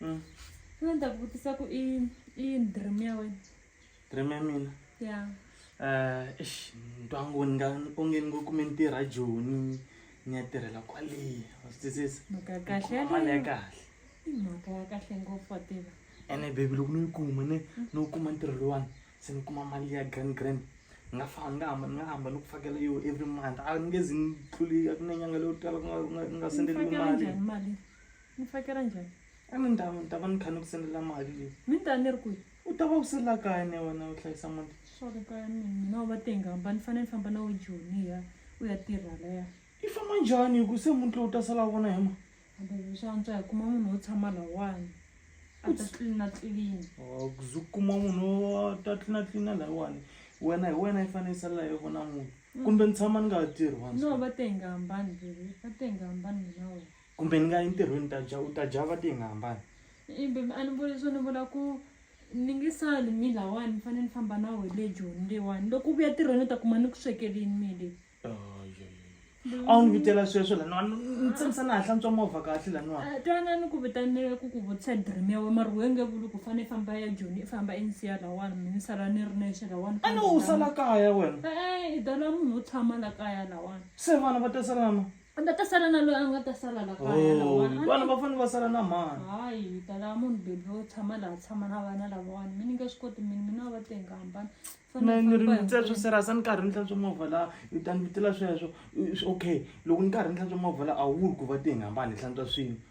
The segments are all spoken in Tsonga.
Mm. Mina ni ta ku vutisa ku i i yini dream ya wena? Dream ya mina? Ya. Eh, eish, ni twa ngo ni nga onge ni ngo kume ni tirha Joni ni ya tirhela kwale. Wa swi twisisa? Mhaka ya kahle Kuma mali ya yaleyo. kahle. I mhaka ya kahle ngopfu wa tiva. Ene baby loko no yi kuma ni no kuma ntirho lowani se ni kuma mali ya grand grand ni nga famba ni nga hamba ni nga hamba ni ku fakela yo every month a ni nge zi ni tluli a ku na nyanga leyo tala ku nga ku nga ku nga Ni sendeliwi fakela mali. njhani mali? Ni tsakela njhani? A ni ndhawu ni ta va ni kha ni ku sendela mali leyi. Mi ni ta ni ri kwihi? U ta va u se la kaya na wena u hlayisa muti. Sorry kaya mina mina u va tenga hamba ni fanele ni famba na we Joni hi ya u ya tirha laya. I famba njhani hi ku se muti lowu u ta sala u vona hi ma. Hamba hi swa antswa hi kuma munhu wo tshama lawani a ta tlilina tlilina. Oh ku ze u kuma munhu wo ta tlilina tlilina layiwani wena hi wena i fanele i salela hi vona muti kumbe ni tshama ni nga ha tirhi vanhu. No va tenga hambani baby va tenga hambani mina wena. kumbe ni nga entirhweni ta dya u ta dya va ti nga hambani ibe a ni vuli swo ni vula ku ni nge sali mi lawani ni fanele ni famba na wehe le joni leyiwani loko u vuya tirhweni u ta kuma ni ku swekelini mi le a wu ni vitela sweswo laniwa ni tshemisa na ha hlantswa movha kahle laniwa ah, twana ni ku vitanile ku ku vutisa dream ya we mari wenge vuli ku fane i famba ya joni i famba i ni siya lawani mi ni sala ni ri nexe lawani a ni u sala kaya wena e-e i dala munhu wo tshama la kaya lawani se vana va ta salama a nga ta sala na loyi a nga ta sala la kaya oh, lawani vana va fanele va sala na mani hayi hi ta lava munhu bebi wo tshama laha tshama na vana lavawani mi ni nge swi koti mini mina va tenga hambana nirindza swo serasa ni karhi ni hlantswa movha la u ta ni vitela sweswo okay loko ni karhi ni hlantswa movha la a wu ri ku va tenga hambana hi hlantswa swin'we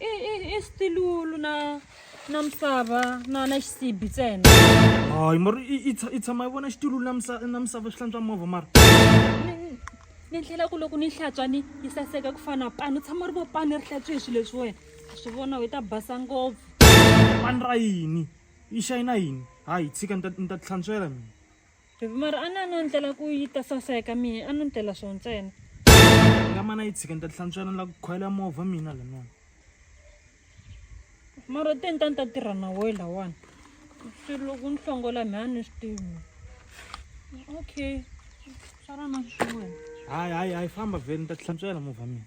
i i i stilulu na na misava na na xisibi ntsena hayi mara i tshama yi vona xitulu na misava na misava swi hlantswa movha mara ni ndlela ku loko ni hlantswa ni yi saseka ku fana pani u tshama ri vo pani ri hlantswe hi swilo leswi wena a swi vona u ta basa ngopfu pani ra yini yi xayina yini hayi tshika ni ta ni ta ti hlantswela mina Baby mara a na no ndlela ku yi ta saseka mina a no ndlela swo ntsena. Nga mana yi tshika ni ta hlantswana la ku khoyela movha mina la mina. Mara te ni ta ni ta tirha na woyi lawani. Swi loko ni hlongola mi a ni swi tivi. Okay. Swa rona swi wena. Hayi hayi hayi famba vhele ni ta hlantswela movha mina.